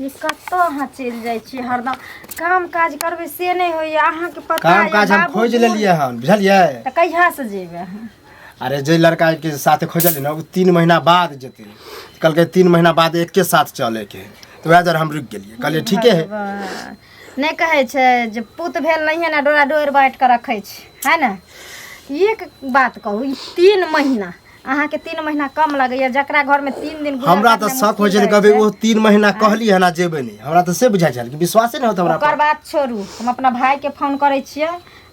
ई कतऽ अहाँ चलि जाइ छियै हरदम काम काज करबै से नहि होइए अहाँके पता काम यऽ काज हम बाबू खोजि बूढ़- लेलियै हन बुझलियै तऽ कहियासँ जेबै अहाँ अरे जे लड़का के साथ खोजलियै ने ओ तीन महीना बाद जेतै कहलकै तीन महीना बाद एके साथ चले के तऽ वएह दुआरे हम रुकि गेलियै कहलियै ठीके है भगवान। नहि कहै छै जे पुत भेल नहिए ने डोरा डोरि बाँटि कऽ रखै छै है ने एक बात कहू ई तीन महीना अहाँ के तीन महीना कम लगैया जकरा घर में तीन दिन गुजर हमरा काटनाइ तऽ शक होइ मुश्किल छै रहै कभी ओ तीन महीना कहली है ना जेबै नहि हमरा तऽ से बुझाइ छल कि विश्वासे नहि होत हमरा ओकर पर बात छोड़ू हम अपना भाई के फोन करै छियै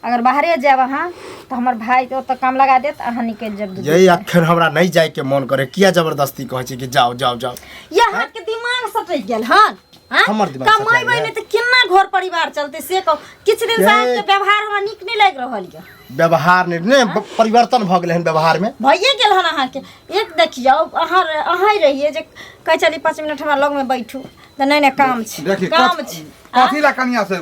अगर बाहरे जायब अहाँ तऽ हमर भाई के ओतऽ काम लगा देत अहाँ निकलि जायब दू दिन। यही अखन हमरा नहि जायके मन करे किया जबरदस्ती कहै छै कि जाओ जाओ जाओ ये अहाँ के दिमाग सटक गेल हन हाँ? हमर दिमाग सटल कमाई है। बहिने त केना घर परिवार चलते से कहो किछु दिन से हे। अहाँके व्यवहार हमरा नीक नहि लागि रहल यऽ व्यवहार ने ने ब- परिवर्तन भऽ गेलै हन व्यवहार में भइए गेल हन अहाँके एक देखियौ अहाँ अहाँ रहिए जे कहै छली पाँच मिनट हमरा लगमे बैठू तऽ नहि नहि काम छै देखी काम कथ- छै कथी ला कनिया से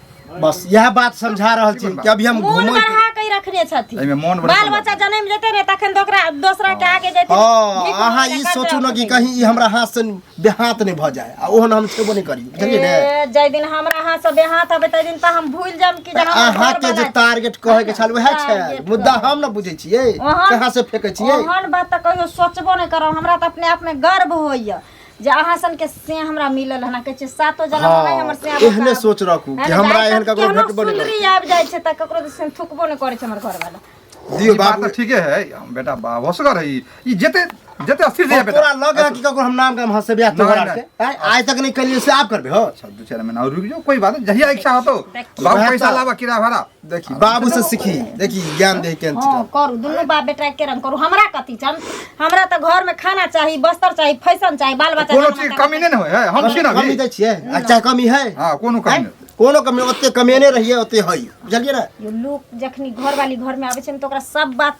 बस यह बात समझा रहल छी कि अभी हम मोन घूमल बढ़ा के रखने छथिन एहिमे मोन बढ़ा बाल के- बच्चा जन्म लेते ने तखन तो ओकरा दोसरा के आगे जेते हाँ अहाँ ई सोचू ने कि कहीं ई हमरा हाथ से बेहाथ नहि भऽ जाय आ ओहन हम छेबो नहि करी बुझलियै ने ए, जाहि दिन हमरा हाथ से बेहाथ हबे ताहि दिन तऽ हम भूल जाम कि जे हम अहाँ के जे टारगेट कहै के छल वएह छै Target मुद्दा कहै। हम ने बुझै छियै ओहन- कहाँ से फेकै छियै ओहन बात तऽ कहियो सोचबो नहि करब हमरा तऽ अपने आप में गर्व होइए जे अहाँ सन के से हमरा मिलल हना कहै छै सातो जन्म हाँ, में हमर से हाँ, एहने सोच रखू कि हमरा एहन ककरो भेटबो नहीं सुनरी आबि जाइ छै त ककरो से थुकबो नहीं करै छै हमर घर वाला दियो बात त ठीके है हम बेटा बाप होसगर है ई जेते जते अस्थिर जे बेटा तोरा लग कि ककरो हम नाम के हम हंसे ब्याह तोरा से आज तक नहीं कलिए से आप करबे हो अच्छा दो चार महीना और रुक जाओ कोई बात नहीं जहिया इच्छा हो तो बाप पैसा लावा किराया भाड़ा देखी बाबू से सीखी देखी ज्ञान दे के हाँ करू दुनू बाप बेटा के रंग करू हमरा कथी छन हमरा त घर में खाना चाही बस्तर चाही फैशन चाही बाल बच्चा कोनो चीज कमी नहि ने होइ है हम छी ना कमी भी दै छियै अच्छा कमी है हां कोनो कमी नहि कोनो कमी ओते कमेने रहिए ओते है बुझलिए ना यो लोग जखनी घर वाली घर में आवे छन त ओकरा सब बात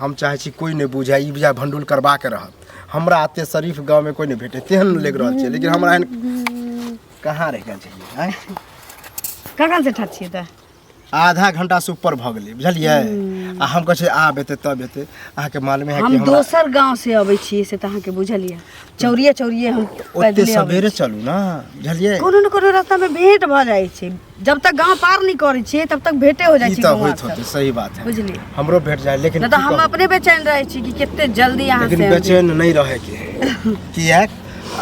हम चाहै छी कोइ नहि बुझै ई बुझै भंडुल करबाक रहत हमरा एते शरीफ गाँव में कोई नहीं भेटे तेहन लग रहल छै लेकिन हमरा एहन कहाँ रह गेल छलियै आँय? कखन से ठाढ़ छियै तऽ आधा घंटा से ऊपर भऽ गेलै बुझलियै आ हम कहै छियै आब एतै तब एतै अहाँके मालूमे है कि हम हमरा दोसर गांव से अबै छियै से तऽ अहाँके बुझल यऽ चौरिये चौरिये हम ओते पैदले अबै सवेरे चलू ने बुझलियै कोनो ने कोनो रास्ता में भेंट भऽ जाइ छै जब तक गांव पार नहीं करै छियै तब तक भेटे हो जाइ ई छै तऽ गांव होइत होतै सही बात है बुझली हमरो भेट जाए लेकिन नहीं तो की हम कहू, अपने बेचैन रहे छी कि कितने जल्दी यहाँ से लेकिन हम- बेचैन नहीं रहे के है। किएक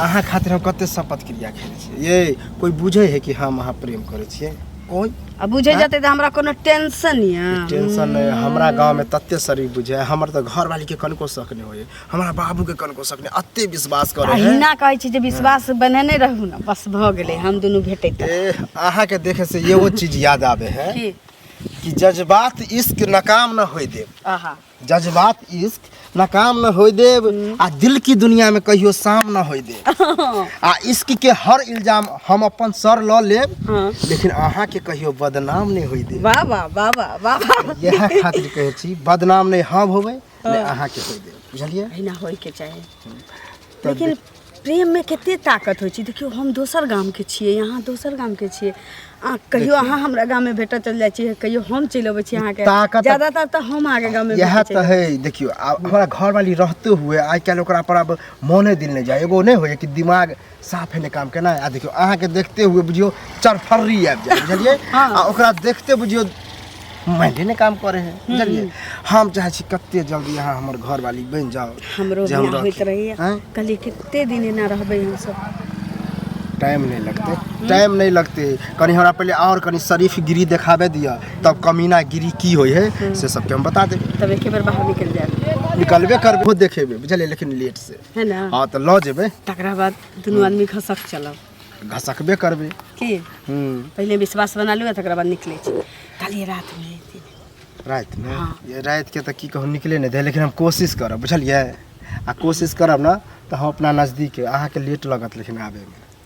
अहाँ खातिर हम कते शपथ क्रिया खेले छियै ये कोई बुझे है कि हम अहाँ प्रेम करे छियै कोई अब बुझे हाँ? जाते तो हमरा कोनो टेंशन या टेंशन नहीं हमरा गांव में तते शरीर बुझे है, हमर तो घर वाली के कनको शक नहीं होए हमरा बाबू के कनको शक नहि अते विश्वास करे है अहिना कहै छी जे विश्वास बनेने रहू ने बस भऽ गेलै हम दुनू भेटैत ए अहाँ के देखे से एगो चीज याद आवे है की कि जज्बात इश्क नाकाम न होय देव आहा जज्बात इश्क नाकाम न होय देव आ दिल की दुनिया में कहियो शाम न होय देव आ इश्क के हर इल्जाम हम अपन सर ल लेब हाँ। लेकिन अहाँ के कहियो बदनाम नहीं होय देव वाह वाह वाह वाह वाह इएह खातिर कहै छी बदनाम नहि हम होबै ले हँ। अहाँके कहि देब बुझलियै अहिना होइके चाही तऽ लेकिन प्रेममे कते ताकत होइ छै देखियौ हम दोसर गामके छियै अहाँ दोसर गामके छियै आ कहियो अहाँ हमरा गाममे भेटऽ चलि जाइ छियै कहियो हम चलि अबै छी अहाँके ताकत- ज्यादातर तऽ हम अहाँके गाममे इएह भेटै तऽ है देखियौ आब हमरा घरवाली रहते हुए आइ काल्हि ओकरा पर आब मोने दिल नहि जाय एगो नहि होइए कि दिमाग साफे ने काम केना आ देखियो अहाँ के देखते हुए बुझियो चरफर्री आबि जाए बुझलिए हाँ। आ ओकरा देखते बुझियो माइंडे ने काम करे है बुझलिए हम चाहे छी कते जल्दी अहाँ हमर घर वाली बन जाओ हमरो जे हम बियाह होइत रहती। रहैया हैं? कहलियै कते दिन एना रहबै हमसब टाइम नहीं लगते टाइम नहीं लगते कनी हमरा पहले और कनी शरीफ गिरी देखाबे दिया तब कमीना गिरी की होय है से सबके हम बता देब तब एके बेर बाहर निकलि जायब निकलबे करबे खुद देखेबे बुझलिए लेकिन लेट से है ना हाँ तो लऽ जेबै तकरा बाद दुनू आदमी घसक चलब घसकबे करबै की हम्म, पहिले विश्वास बना लू तकरा बाद निकलै छी काल्हि रात मे अयथिन। राति में हाँ। ये राति के तो की कहूँ निकले नहीं दे लेकिन हम कोशिश करब बुझलिए आ कोशिश करब ना तो हम अपना नजदीक अहाँ के लेट लगत लेकिन आबे में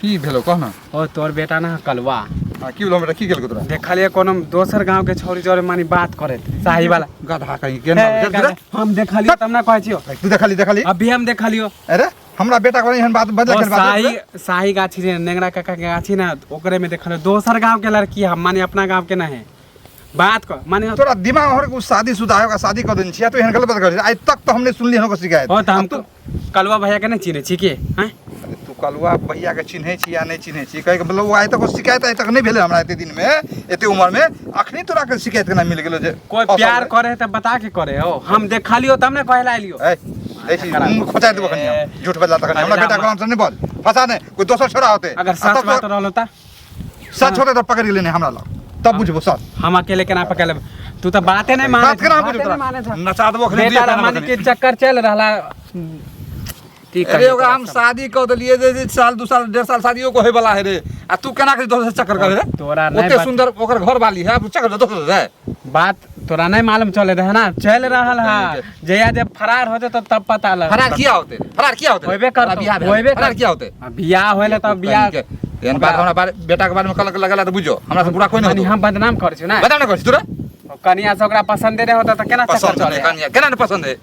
की भेलो कह ना ओ तोर बेटा ना कलवा आ की भेलो हमरा की गेल तोरा देखलिए कोनो दोसर गांव के छोरी जोरे मानी बात करे साही वाला गधा कहीं के ना हे, गधा, हम देखलियो तब ना कहै छियो तू देखली देखली अभी हम देखलियो अरे हमरा बेटा को एहन बात बदला ओ के बात साही साही गाछी रे नेंगरा काका के गाछी ना ओकरे में देखलियो दोसर गांव के लड़की हम माने अपना गांव के ना है बात कर माने तोरा दिमाग हर को शादी शुदा होगा शादी कर देन छिया तो एहन गलत बात कर आइ तक तो हमने सुनली हन को शिकायत ओ त हम अब तो- कलुआ भैया के नहीं चिन्हे छी के हैं अरे तू कलुआ भैया के चिन्हे छी या नहीं चिन्हे छी कहे के मतलब आइ तक शिकायत आइ तक नहीं भेले हमरा एते दिन में एते उम्र में अखनी तोरा के शिकायत केना मिल गेलो जे कोई असल प्यार है। करे है तो बता के करे हो हम देखा लियो तब ना कहे ला लियो ए ए छी करा। मुंह खोचा देबो कनी ए, झूठ बजला तक हमरा अरे बेटा रामा। को हमसे नहीं बोल फसा ने कोई दोसर छोरा होते अगर आ सच तब बात तो- रहल होता सच होते तो पकड़ लेने हमरा लग तब बुझबो सच हम अकेले केना पकड़ लेब तू तो बाते नहीं माने बात केना बुझबो तोरा नचा देबो खले बेटा रमानी के चक्कर चल रहला की अरे कहियो ओकरा हम शादी कऽ देलिए जे जे साल दू साल डेढ़ साल शादियो को होय वाला है रे आ तू केना के दोसर से चक्कर करे रे तोरा नहीं ओते बात- सुंदर ओकर घर वाली है अब चक्कर दोसर रे बात तोरा नहीं मालूम चले रहे ना चल रहल है जया जब फरार होते तो तब पता लग फरार किया होते रे? फरार किया होते रे? होइबे करतो, फरार बियाह भेल। होइबे फरार करतो। किया होते आ, बियाह होले तब बियाह के एहन बात हमरा बारे बेटा के बारे में कलक लगला त बुझो हमरा से बुरा कोई नहीं कनी होतो हम बदनाम कर छियो ना बता ना कर तोरा कनिया से ओकरा पसंद रहे होता तो केना चक्कर पसंद चले है कनिया केना ने पसंद है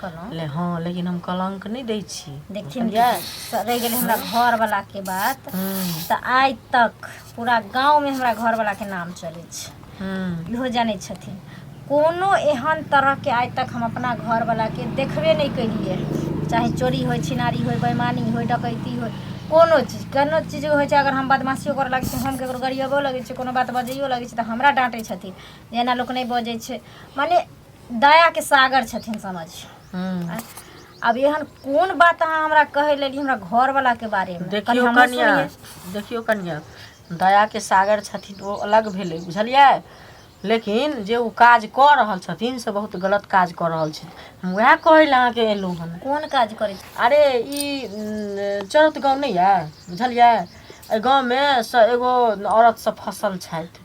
कहलहुँ हँ लेकिन हम कलंक नहि दै छी देखथिन रहि गेलै हमरा घरवलाके बात तऽ आइ तक पूरा गाँवमे हमरा घरवलाके नाम चलै छै इहो जानै छथिन कोनो एहन तरहके आइ तक हम अपना घरवलाके देखबे नहि केलिए चाहे चोरी होइ छिनारी होइ बेमानी होइ डकैती होइ कोनो चीज कोनो चीज होइ छै अगर हम बदमाशियो करऽ लगै छै हम ककरो गरियबो लगै छै कोनो बात बजैयो लगै छै तऽ हमरा डाँटै छथिन जे एना लोक नहि बजै छै मने दया के सागर छथिन समझ हम्म। अब एहन कोन बात अहाँ हमरा कहै लेली हमरा घर वाला के बारे में कनी देखियौ हमहूँ कनिया सुनियै। देखियौ कनिया दया के सागर छथिन ओ अलग भेलै बुझलियै लेकिन जे ओ काज कऽ रहल छथिन से बहुत गलत काज कऽ रहल छथिन हम उएह कहै लए अहाँके एलहुँ हन कोन काज करै छी? अरे ई न, चरत गाँव नहि यऽ बुझलियै एहि गाँवमे स एगो औरत सब फसल छथि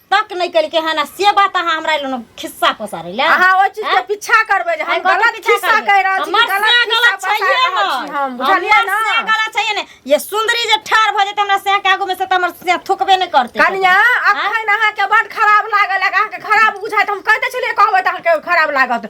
तक नहीं कल के है ना से बात अहाँ हमरा लोग खिस्सा पसारे ले अहाँ ओहि चीज के आँय? पीछा करबै जे हम आइ कथी गलत पीछा खिस्सा करबै? कहि रहल छी हमर गलत से खिस्सा गलत बता छैहे रहल छी ने। हम बुझलियै हमर ने से गलत छैहे ने ये सुंदरी जे ठार भ जेते हमरा से के आगू में से त हमर से थुकबे नहीं करते कनिया अखन अहाँके बड खराब लागल अहाँके खराब बुझाइत हम कहिते छलियै कहबै तऽ अहाँके खराब लागत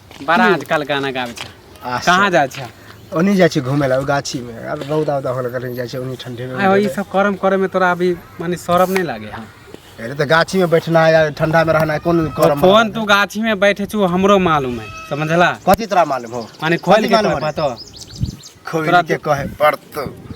बड़ा आजकल गाना गाबै छै आ कहाँ जाइ छै ओनी जाइ छै घूमे ला ओ गाछी में अब रौदा उदा होल कहीं जाइ छै ओनी ठंडे में आय ई सब करम करे में तोरा अभी माने शरम नहीं लागे है अरे तो गाछी में बैठना है या ठंडा में रहना है कौन करम फोन तू गाछी में बैठे छु हमरो मालूम है समझला कथी तोरा मालूम हो माने खोल कथी के मालूम तोरा है? बतो खोल तोरा के कहे पड़तो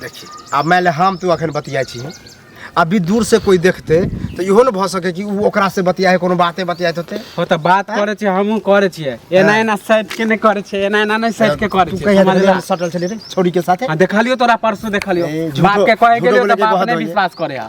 देखी आब मानि ले हम तू अखन बतियाइ छी अभी दूर से कोई देखते तो इहो ने भऽ सके कि ऊ ओकरा से बतियाए कोनो बाते बतियाइत होते हो तऽ बात करै छियै हमहूँ करै छियै एना एना साइड के नहि करै छियै एना एना नहि साइड के करै तू छियै कहिया समझला? देखलियै सटल छलै रे छौड़ी के साथे आ देखलियो तोरा परसू देखलियो ए, झूठो- बाप के कहे झूठो गेलियो बोले तऽ के बाप बहुत नहि होइए। विश्वास करे है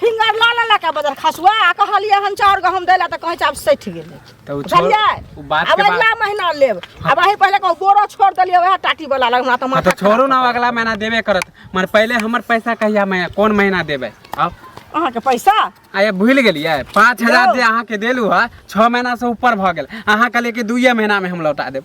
फिंगर लऽ लेलक आ बदल खसुआ आ कहलियै हन चाउर गहूँम दै लए तऽ कहै छै आब सठि गेलै तऽ उ छोड़ बुझलियै उ बात आब के बात अगिला महीना लेब आब अही पहिले कहू बोरो छोड़ देलियै वएह टाटी वाला लग हमरा तऽ हाँ, माथा तो छोड़ू ना अगला महीना देबे करत मगर पहले हमर पैसा कहिया मैं कौन महीना देबे अब अहाँके पैसा आये भूल गेलिए पाँच हजार जे अहाँ के देलू है छः महीना से ऊपर भ गेल अहाँ कहलिए कि दुइये महीना में हम लौटा देब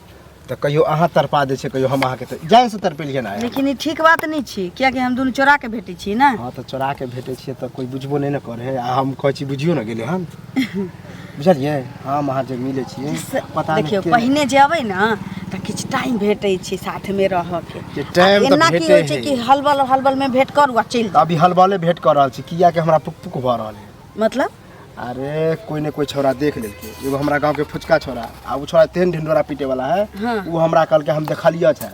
तऽ कहियो अहाँ तरपा दै छै कहियो हम अहाँके तर- जान से तरपेलिए ना लेकिन ई ठीक बात नहि छी कियाकि हम दुनू चोरा के भेटै छी ने हाँ तऽ चोरा के भेटै छियै तऽ कोई बुझबो नहि ने करे है आ हम कहै छी बुझियो ने गेलै हन बुझलियै हम अहाँ जे मिलै छियै से- पता नहि देखियौ के- पहिने जे अबै ने तऽ किछु टाइम भेटै छै साथमे रहऽके जे time तऽ एना की भेटै होइ छै है। कि हलबल हलबल मे भेट करू आ चलि तऽ जाउ अभी हलबले भेट कऽ रहल छी किया कि हमरा पुक पुक भऽ रहल है मतलब अरे कोई ने कोई छोरा देख लेलके एगो हमरा गांव के फुचका छोरा आ उ छोरा तेन ढिंडोरा पीटे वाला है हाँ। उ हमरा कहल के हम देखलिए छै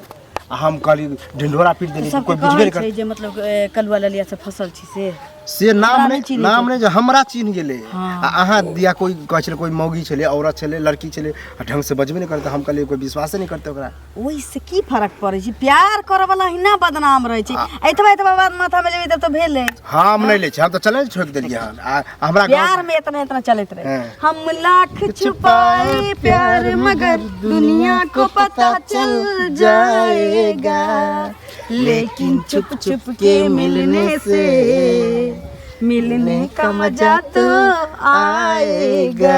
आ हम कहली ढिंडोरा पीट देली सब कोई बुझबे कहै नहि कर छै जे मतलब ए, कलुआ ललिया से फसल छी से से नाम हमरा नहि नहि चिन्है नाम छै। नहि जे हमरा चिन्ह गेले हाँ। आ अहाँ दिया कोई कहै छले कोई मौगी छले औरत छले लड़की छले आ ढंग से बजबे नहि करते हम कहलिए कोई विश्वासे नहि करते ओकरा ओहिसँ की फरक पड़ै छै प्यार करऽवला ही ना बदनाम रहै छै एतबा एतबा बात माथामे लेबै तब तऽ भेलै हम नहि लै छी हम तऽ चले छोड़ि देलियै हन आ हमरा गाँव प्यार में इतना इतना चलत रहे हाँ। हम लाख छुपाए प्यार मगर दुनिया को पता चल जाएगा लेकिन चुप चुप के मिलने से मिलने का मजा तो आएगा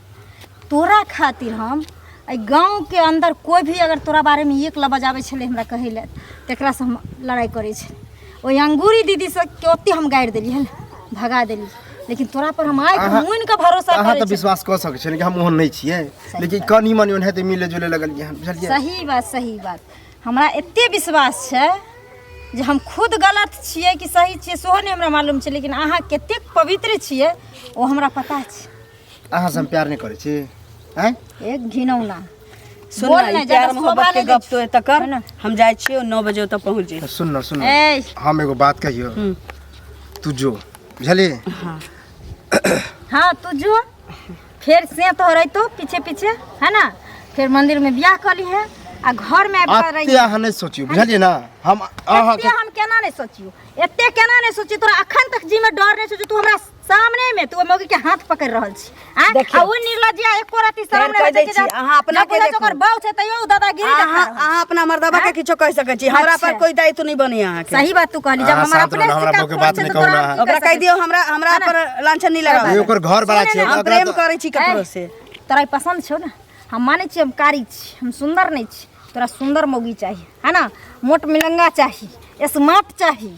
तोरा खातिर हम एहि गाँवके अन्दर कोइ भी अगर तोरा बारेमे एक लबाज आबै छलै हमरा कहै लए तकरासँ हम लड़ाइ करै छलै ओहि अंगूरी दीदीसँ के ओते हम गाड़ि देली हल भगा देली लेकिन तोरा पर हम आइ अहाँ- मुनि के भरोसा अहाँ करै तऽ छी। विश्वास कऽ सकै छियै कि हम ओहन नहि छियै सही लेकिन बात। कनी मनी ओहन हेतै मिले जुले लगलियै हन बुझलियै सही बात सही बात हमरा एते विश्वास छै जे हम खुद गलत छियै कि सही छियै सेहो नहि हमरा मालूम छै लेकिन अहाँ कतेक पवित्र छियै ओ हमरा पता छै अहाँ से हम प्यार नहीं करे छी हैं एक घिनौना सुन बोल ना, ना, ई ज्यादा प्यार मोहब्बत शोभा के नहीं गप तो एतऽ कर ना। हम जाइ छियो नौ बजे ओतऽ पहुँच जाई तो सुन ना सुन ना ए हम एगो बात कहियो हम्म। तू जो बुझली हाँ हाँ तू जो फिर से तो रही तो पीछे पीछे है ना फिर मंदिर में ब्याह कर ली है आ घर में आबि कर रही अत्ते अहाँ नहीं सोचियो बुझलिए ना हम अहाँ एते हम केना नहीं सोचियो एते केना नहीं सोचियो तोरा अखन तक जी में डर नहीं सोचियो तू हमरा सामने में तू मौगी के हाथ पकड़ रहल छी आ देखियौ। आ ओ निर्लज्जा एको राति फेर सामने कहि में दै देखे छी, जात। अहाँ अपना ना के बुझै छै देखू। ओकर बाउ छै तैयो उ दादागिरी अहाँ देखा रहल। अहाँ अपना मर्दबा के किछो कहि सकै छी हमरा पर अच्छा। कोई दायित्व नहीं बनी अहाँ के सही बात तू कहली जब अहाँ हमर साथ अपने रहू, हमरा शिकार बौके खोल बात छै नहि तऽ कहू तोरा अहाँ। हम की ओकरा कहि कहि सकै दियौ हमरा हमरा पर लांछन नहीं लगा ई ओकर घर बड़ा छै हम ओकरा प्रेम तऽ- करै छी ककरो से छी। तोरा ई पसंद छौ ने हम मानै छी हम कारी छी हम सुंदर नहीं छी तोरा सुंदर मौगी चाहिए है ना मोट मिलंगा चाहिए स्मार्ट चाहिए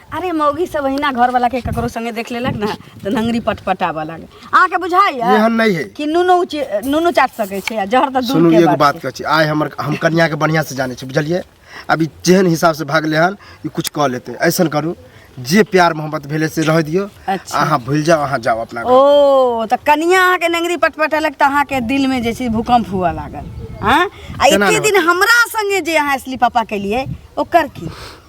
अरे मौगी सब अहिना घर वाला के ककरो संगे देख लेलक ना तो नंगरी पटपटावा लागे अहाँ के बुझाई एहन नहीं है कि नूनो उचे- नूनो चाट सके छै आ जहर तऽ दूर सुनू के एगो बात बात कहै छी आइ हमर हम कन्या के बढ़िया से जानै छी बुझलियै अभी जेहन हिसाब से भागले हन ई कुछ कऽ लेतै ऐसन करू जे प्यार मोहब्बत भेलै से रहै दियौ अच्छा। अहाँ भूलि जाउ अहाँ जाउ अपना घर ओ तऽ कनिया अहाँके नंगरी पटपटेलक तऽ अहाँके दिल में जे छै भूकंप हुआ लागल हाँ आ केना एके ने दिन हमरा संगे जे अहाँ इसलिए पापा केलिए ओकर की